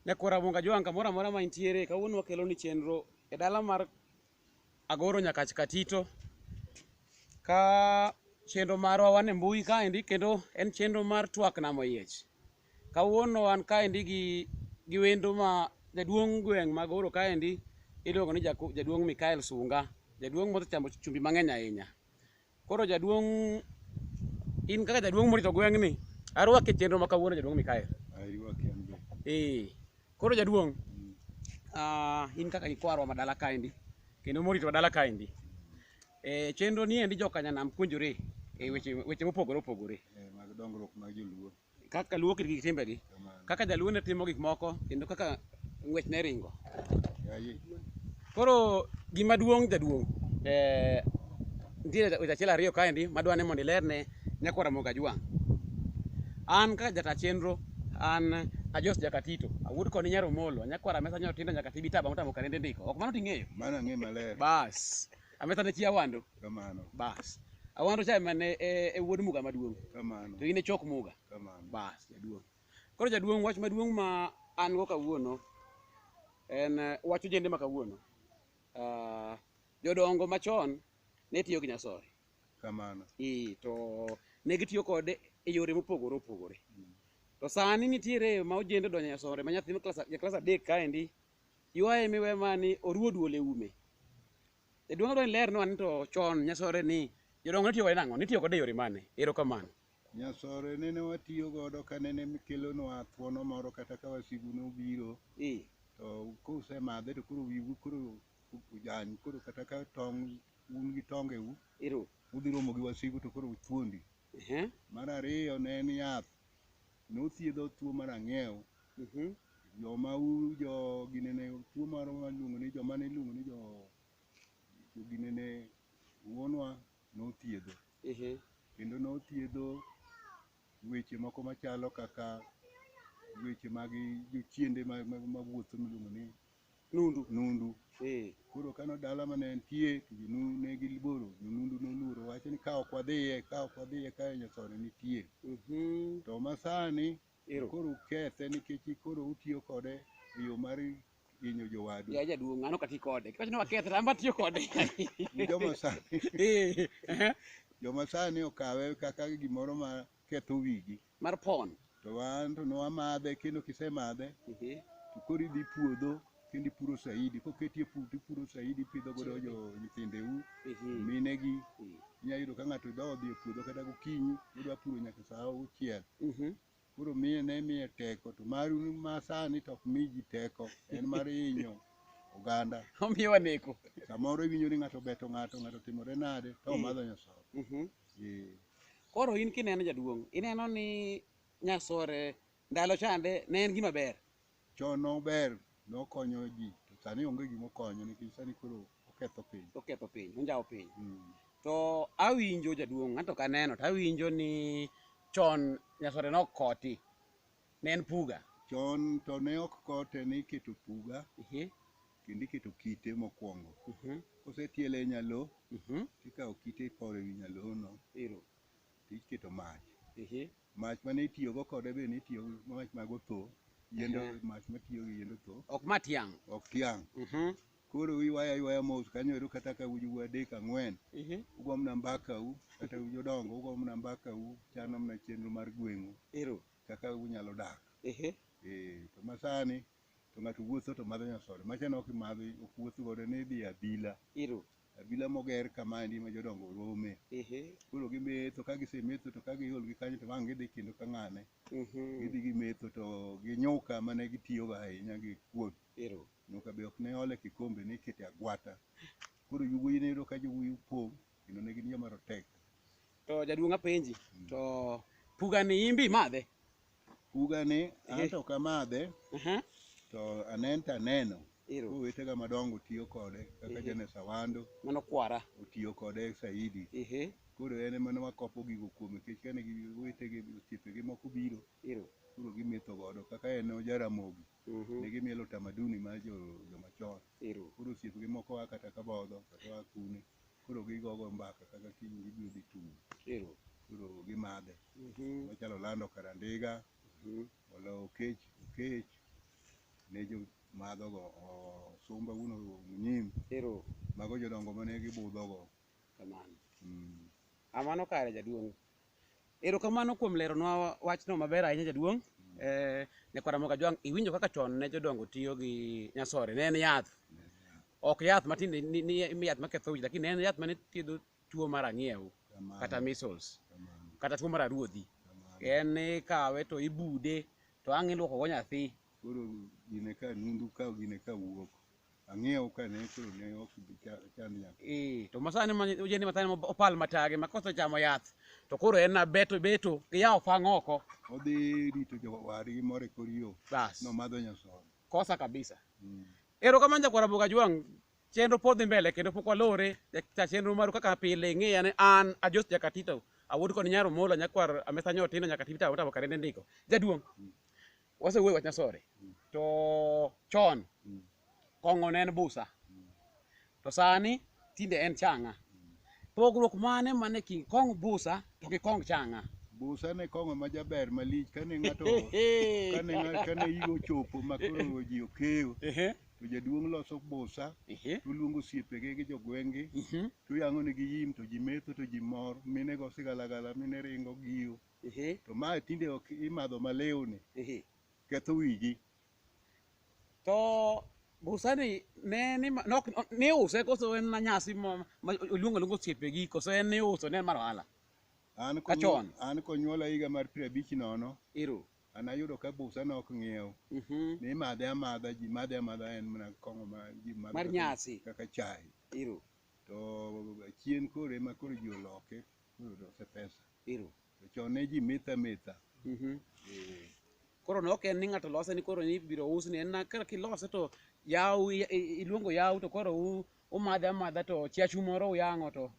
Nyako Ramonga Jwang' kamoro amora ma intiere, kawuono wakelo ni chenro e dala mar Agoro Nyakach Katito. Ka chenro marwa wan e mbui kaendi kendo en chenro mar twak nam oyiech. Kawuono wan kaendi gi gi wendo ma jaduong' gweng' ma Agoro kaendi iluongo ni Jaduong' Mikael Sunga. Jaduong' mosechamo chumbi mang'eny ahinya. Koro jaduong' in kaka jaduong' morito gweng'ni, arwaki e chenro ma kawuono jaduong' Mikael. Aywak an be. Eh, koro jaduong', Mm. ah, in kaka ikwarwa ma dala kaendi, kendo morito dala kaendi. Eh, chenro ni endi joka nyanam puonjore e weche weche mopogore opogore. Eh, mag dongruok mag joluo. kaka luo kit gi timbegi kaka jaluo ne timo gik moko kendo kaka ng'wech ne ringo koro gima duong' jaduong' eh, nitiere weche achiel ariyo kaendi madwa ni mondo ilerne nyako Ramogi Ajwang'. An kaka jata chenro an Ajos Jakatito awuod koni Nyar Omolo nyakwara mesa nyotindo nyaka tibi taba motamo karende ndiko ok mano ting'eyo Mano ang'e maler. bas Ametha ne chi Awando. Kamano. Bas. Awando cha ema ne e, e wuod Muga maduong'. Kamano. To in e chok Muga. Kamano. Bas, jaduong'. Koro jaduong' wach maduong' ma an go kawuono en eh, wach ojende ma kawuono. Ah, jodongo machon ne tiyo gi nyasore. Kamano. Ee, to ne gitiyo kode e yore mopogore opogore. To sani nitiere ma ojende odonjo e nyasore ma nyathi ma klas ja klas adek kaendi Yuaye mi we mani oruo duol e ume. Jaduong' adwa ni lernwa ni to chon nyasore ni jodongo ne tiyo kode nang'o? Nitiyo kode e yore mane? Erokamano. Nyasore nene watiyo godo ka nene kelonwa thuono moro kata ka wasigu nobiro Ee. to kusemadhe to koro wiu koro ojany koro kata ka tong' un gi tongeu Ero. udhi romo gi wasigu to koro thuondi. Ehe. Mar ariyo ne en yath nothiedho tuo mar ang'ew Mhm. joma u jo ginene tuo mar waluongo ni joma ne iluongo ni jo jo ginene wuonwa nothiedho Ehe. kendo nothiedho weche moko machalo kaka weche mag jochiende ma- ma- mawuotho miluongo ni Nundu. Nundu. Eh. Koro kano dala mane entie to jonu ne gilboro, jonundu noluoro wacho ni ka ok wadhiye, ka ok wadhiye ka nyasore nitie. Mhm. To masani Ero. koro ukethe nikech koro utiyo kode e yo mar hinyo jowadu. Ya jaduong' an ok ati kode. Kiwacho ni wakethe to an be atiyo kode. Ni Joma sani, Eh. eh. joma sani okawe kaka gimoro ma ketho wigi. mar pon to wan to nwamadhe kendo kisemadhe Ehe. to koro idhi puodho kendo ipuro saidi koketie pu to ipuro saidi ipidho godo jo nyithindeu Ehe. minegi Ehe. inya yudo ka ng'ato idho odhi e puodho kata gokinyi odwa puro nyaka saa auchiel Mhm. koro miye ne miye teko to maru ma sani to ok mi ji teko en mar hinyo oganda omiyo waneko samoro iwinjo ni ng'ato obeto ng'ato ng'ato timore nade to omadho nyasaye Mhm. Eh, Koro in kineno jaduong', ineno ni nyasore ndalo chande ne en gima ber. Chon nober, nokonyo ji, to sani onge gima okonyo nikech sani koro oketho piny. Oketho piny, onjawo piny. Mm. To awinjo jaduong', anto ok aneno, to awinjo ni chon nyasore ne ok koti, ne en puga. Chon to ne ok kote ni iketo puga, Ehe. kendo iketo kite mokwongo. Mhm. Kosetiele e nyalo, Mhm. tikawo kite iporo ewi nyalono, Ero. tiketo mach. Ehe. Mach mane itiyogo kode be nitiyo gi mach mag otho, yiend Aha. mach matiyo gi yiend otho, Ok ma tiang'. ok tiang'. Mhm. Koro iywaya aywaya mos kanyo ero kata ka uju adek ang'wen, Ehe. ugo mana mbakau, kata uju dongo, ugo mana mbakau, chano mana chenro mar gweng'u Ero. kaka unyalo dak. Ehe. Eh, to masani to ng'ato wuotho to madho nyasoda macha ne ok imadho ok wuoth godo ne idhi e abila Iro. abila moger kama endi ma jodongo rome Ehe. koro gimetho ka gisemetho to ka giol gi kanyo to wang' gidhi kendo ka ng'ane Mhm. gidhi gimetho to gi nyuka mane gitiyogo ahinya gi kuon Iro. nyuka be ok ne ole kikombe ne ikete agwata koro yowuoyi ne yudo ka yowuoyi pong' kendo ne gin joma rotek To jaduong' apenji. To pugani imbi imadhe? Ugani an Eh. to ok amadhe Aha. to anen to aneno Ero. owetega madongo tiyo kode kaka Eh. Janes Awando Mano kwara. otiyo kode saidi Ehe. koro en ema ne wakopo gigo kuome nikech kane gi- owetege osiepege moko biro Ero. koro gimetho godo kaka en Jaramogi Mhm. ne gimielo tamaduni mar jo- jomachon Ero. koro osiepgi moko a kata kabodho kata a kune koro gigogo mbaka kaka kiny gibiro dhi tum Ero. koro gimadhe Mhm. machalo lando karandiga Mhm. olo okech okech ne jo madhogo o- sumba uno munyim Ero. mago jodongo mane gibudhogo Kamano. mm. Amano kare jaduong'. Erokamano kuom leronwa wachno maber ahinya jaduong'. Eh, Nyakwar Ramogi Ajwang', iwinjo kaka chon ne jodongo tiyo gi nyasore. Ne en yath. Ok yath matin ni- ni ni yath maketho wich, lakini ne en yath mane thiedho tuo mar ang'iew Kamano, kata measles kamano, kata tuo mar aruodhi. kamano. En ikawe to ibude to ang' iluokogo nyathi. Koro gine ka nundu ka gine ka wuok. Ang'iew ka ne koro ne ok bi cha- chand nyathi. Eh, to masani ma ojende masani ma opal matage ma kosechamo yath to koro en na beto beto gi yawo fang' oko Odhi rito jowadgi moro e kor yo. bas Nomadho nyasoya. kosa kabisa Mm. ero kamano jakwara boga jwang' chenro pod dhi mbele kendo pok walore ja chenro maru kaka pile ing'eya ni an ajos jakatito awuod kod nyaro mola nyakwar amesa nyotino nyakatito awota wakarende ndiko jaduong' wasewuoyo wach nyasore to chon kong'o ne en busa to sani tinde en chang'a pogruok mane mane king kong busa to gi kong chang'a busa ne kong'o ma jaber malich kane ng'ato kane ng'a- kane igo chopo ma koro ji okeyo Ehe, to jaduong' loso busa ehe, toluongo osiepege gi jogweng'gi mhm. toyang'onegi yim to ji metho to ji mor mine go sigalagala mine ringo giyo Ehe, to mae tinde ok imadho malewni ehe. ketho wigi To busani ne ni ma- nok ne use koso en na nyasi ma ma oluongo luongo osiepe gi koso en ne uso ne en mar ohala. an Ka chon. an konyuola higa mar piero abich nono Ero. an ayudo ka busa nok ng'iew Mhm. ni imadhe amadha ji madhe amadha en mana kong'o ma ji madho Mar kaka- nyasi. kaka chai Ero. to chien koro ema koro ji oloke koro lose pesa Ero. To chon ne ji metho ametha. Mhm. Eh, Koro ne ok en ni ng'ato lose ni koro ni ibiro us ni en na kaka kilose to yaw i- i- iluongo yaw to koro u- umadhe amadha to chiachu moro uyang'o to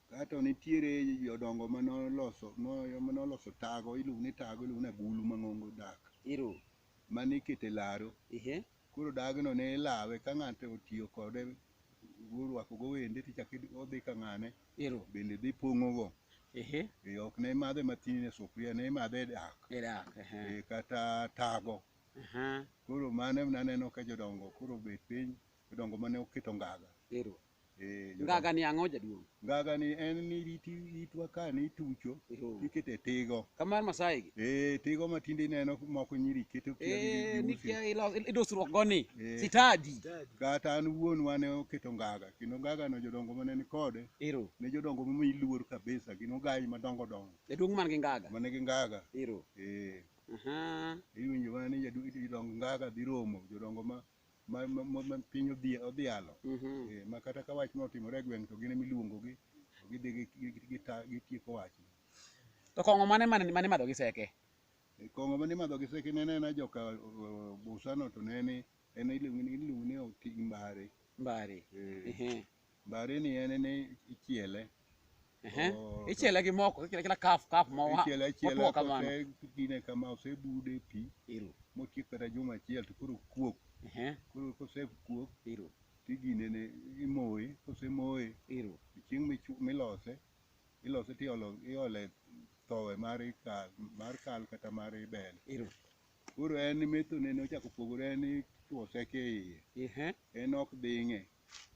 Kato nitiere jodongo ma noloso mo- ma noloso tago, iluongo ni tago, iluongo ni agulu mang'ongo dak. Ero. Mane ikete laro. Ehe. Koro dagno ne ilawe ka ng'ato otiyo kode orwakogo wende tichako odhi ka ng'ane ero bende dhi pong'ogo ehe Eh, ok ne imadhe matin e sufuria ne imadhe e dak erak ehe Eh, kata tago aha koro mano naneno ka jodongo koro obet piny jodongo mane oketo ngaga ero Eh, jo- Ngaga ni ang'o jaduong'? Ngaga ni en ni iti itwa ka ni itucho Eho. ikete tigo. Kamar Masai gi. Eh, tigo ma tinde ineno moko nyiri keto kia gi- Eh, gi usi. nikia ilo- idosruok goni. Eh. Sitadi. Kata an wuon wane oketo ngaga kendo ngaga no jodongo mane ni kode Ero. ne jodongo ma iluor kabisa gin ogayi madongo dongo Jaduong' man gi ngaga. mane gi ngaga. Ero. Eh, Aha. iwinjo mana ni jadu- jodong ngaga dhi romo jodongo ma ma, ma, ma, ma piny odhi odhialo Mhm. eh, ma kata ka wach notimore e gweng' to gin ema iluongogi to gidhi gi- gi- gi- gita- gitieko wach To kong'o mane mane mane madho gi seke? E, kong'o mane imadho gi seke ne nena joka o- o- busano to ne ni en iluongo ni iluongo ni oting' mbare Mbari. Eh, Ehe. Mbari ni en ni ichiele. Ehe. Oh, Ichiele gi moko, ichiele kila kaf kaf ma wa. Ichiele achiela motwo kamano. kose dine kama osebude e pi Iru. motiek kata juma achiel to koro kuok. Ehe. Koro kosekuok Iru. tigine ne imoye, kosemoye Iru. chieng' michu- milose ilose tiolo iole thowe mar ikal mar kal kata mar ibel. Iru. Koro en methone ne ochako opogore en itwose kiiye. Ehe. En ok ding'e.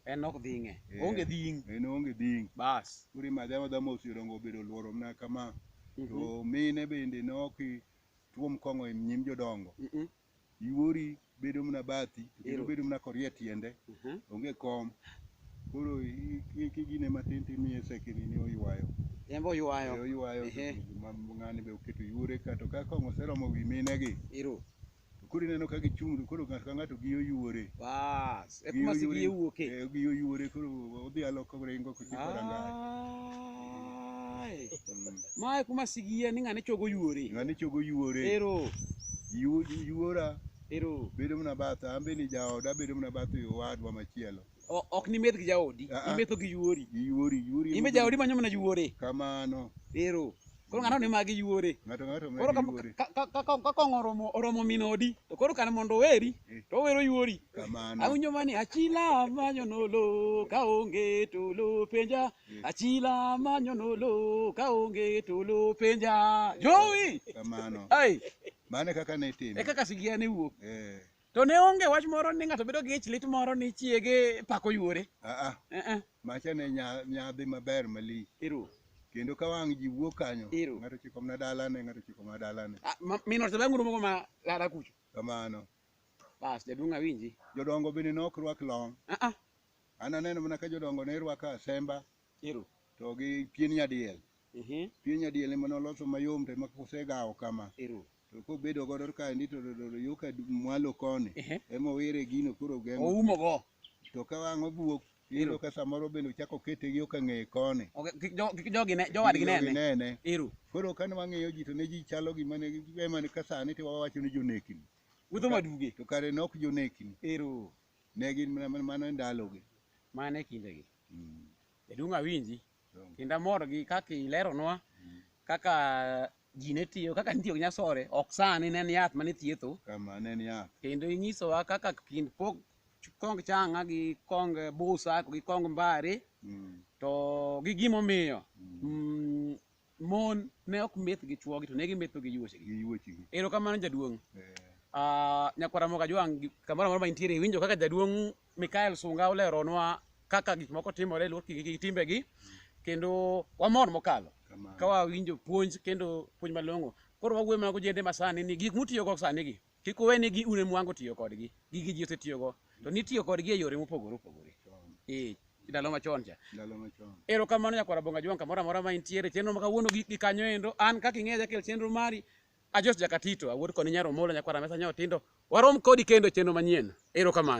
en ok dhing'e Eh. onge dhing' en onge dhing' bas kuri madha madha mos jodongo obedo oluoro mna kama Mhm. to mine bende nok tuom kong'o e nyim jodongo Mhm. iwori bedo mna bathi to kendo Ero. bedo mna korie tiende Mhm. onge kom koro i- i- kigine matin timiye sekini ni oywayo en be oywayo oywayo Ehe. ma- ng'ani be oketo yuore ka to ka kong'o oseromo wi minegi iro To koro ineno ka gichung' to koro ng'ato ka ng'ato gi oyuore. Bas, e kuma sigi wuoke. Eh, gi oyuore koro odhi aloko ringo kochopo rangach. Ai. Ma e kuma sigi ni ng'ane chogo yuore. Ng'ane chogo yuore. Ero, Yu- Yuora ero. bedo mana batha, an be ni jaoda bedo mana batha owadwa machielo. O- ok nimeth gi jaodi Ah, ah. imetho gi yuori Yuori, yuori. imbe yuori. jaodi manyo mana yuore Kamano. ero koro ng'ano ni magi yuore Ng'ato ng'ato koro magi yuori. ka- ka- ka- ka- ka kong'o oromo oromo min odi to koro kane mondo oweri to owero yuori Kamano. awinjo mani achila manyo nolo ka onge tolo penja achila manyo nolo ka onge tolo penja jowi Kamano. ai Mane kaka ne itimo. e kaka sigia ne wuok Eh. To ne onge wach moro ni ng'ato bedo gi ich lit moro ni chiege pako yuore. Ah, ah. Eh, eh. Macha ne nya- nyadhi maber malich. Ero. Kendo ka wang' ji wuok kanyo, Ero. ng'ato chiko mana dalane, ng'ato chiko mana dalane. Ah, ma- Min ot bang' urumo ma lada kucho. Kamano. Bas jaduong' awinji. Jodongo bende ne ok rwak long. Ah, ah. An aneno mana ka jodongo ne rwako asemba Ero. to gi pien nyadiel. Mhm. Pien nyadiel ema noloso mayom to ema kosegawo kama. Ero. to kobedo godo kaendi to to- to- to yo ka du- mwalo koni Ehe. emowire gino koro geng'o oumo go to ka wang' obuok iyudo ka samoro bende ochako kete gi yo ka ng'eye koni Okay, kik jo- kik jogi ne jowadgi Gino nene ginene. ero koro kane wang'iyo ji to ne ji chalo gima ne emane ka sani to wawacho ni jonekni wuotho maduge to kare ne ok jonekni ero ne gin mana- mana- mano e ndalogi mane kindegi Mm. jaduong' awinji kendo amor gi kaka ileronwa kaka ji ne tiyo kaka nitiyo gi nyasore ok sani ne en yath mane thietho Kama ne en yath. kendo inyisowa kaka kind pok kong changa gi kong busa gi kong mbare Mm. to gi gimomiyo mm, mon ne ok meth gi chwogi to ne gimetho gi yuochegi gi yuochigi erokamano jaduong' Eh, Ah, nyakwara moka jwang' gi- kamoro amora ma intiere iwinjo kaka jaduong' mikael sunga oleronwa kaka gik moko timore e luor gi gi timbegi kendo wamor mokalo kamano. ka wawinjo puonj kendo puonj malong'o koro wawuoyo mana gojende masani ni gik mutiyogo sani gi Kik uwe ni gi une mwango tiyo kodgi. Gigi ji osetiyogo. To nitiyo kodgi e yore mopogore opogore. Eh, ndalo machon cha. Ndalo machon. Ero kamano nyakwara Bonga Jwang' kamoro amora ma intiere chenro ma kawuono gi, gi kanyo endo an kaka ing'eya jakel chenro mari Ajos Jakatito awuod koni Nyar Omolo nyakwara Mesa Nyao Tindo warom kodi kendo e chenro manyien. Ero kamano.